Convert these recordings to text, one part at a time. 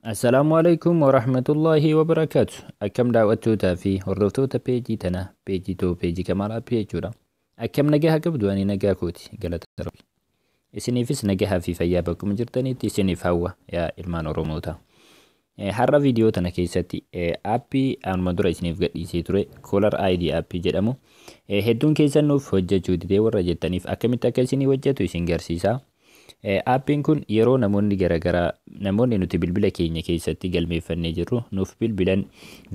Assalaamu alaikum wa rahmatullahi wa barakaatu. Akkam daawwattootaa fi hordoftoota peejii tanaa peejii too peejii Kamaal Appii jechuudha. Akkam nagaa qabdu ani nagaa kooti galata rabbi. Isiniifis nagaa fi fayyaa bakkuma jirtanitti isiniif hawwa yaa ilmaan Oromootaa. Har'a viidiyoo tana keessatti aappii anuma dura isiniif gadhiisee ture Caller ID aappii jedhamu hedduun keessan nuuf hojjechuu didee warra jettaniif akkamitti akka isinii hojjetu isin garsiisa. Aappiin kun yeroo namoonni garaagaraa namoonni nuti bilbila keenya keessatti galmeeffannee jirru nuuf bilbilan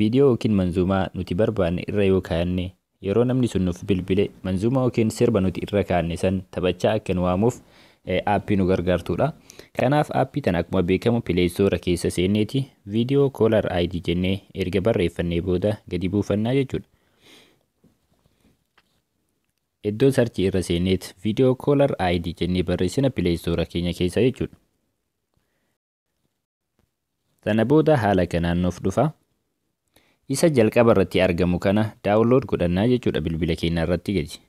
viidiyoo yookiin manzuumaa nuti barbaanne irra yoo kaa'anne Yeroo namni sun nuuf bilbile manzuumaa yookiin sirba nuti irra kaanne san taphachaa akka nu waamuuf aappii nu gargaartuudha. Kanaaf aappii tana akkuma beekamu pileeystoora keessa seenneeti viidiyoo koolar ID jennee erga barreeffannee booda gadi buufannaa jechuudha. Iddoo sarchii irra seenneet viidiyoo koolar ID jennee barreessina pileeystoora keenya keessa jechuudha. Sana booda haala kanaan nuuf dhufa. Isa jalqaba irratti argamu kana download godhannaa jechuudha bilbila keenya irratti gadi.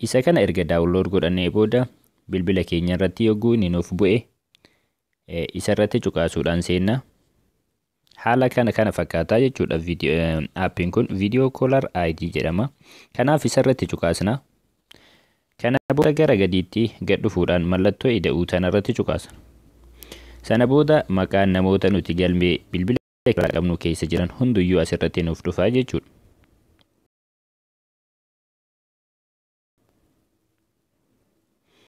Isa kana erga download godhannee booda bilbila keenya irratti yogguu inni nuuf bu'e isa irratti cuqaasuudhaan seenna. Haala kana kana fakkaataa jechuudha appiin kun video caller ID jedhama. Kanaaf isarratti cuqaasna. Kana booda gara gadiitti gad dhufuudhaan mallattoo ida'uu tanarratti cuqaasna. Sana booda maqaan namoota nuti galmee bilbila irraa qabnu keessa jiran hunduyyuu asirratti nuuf dhufaa jechuudha.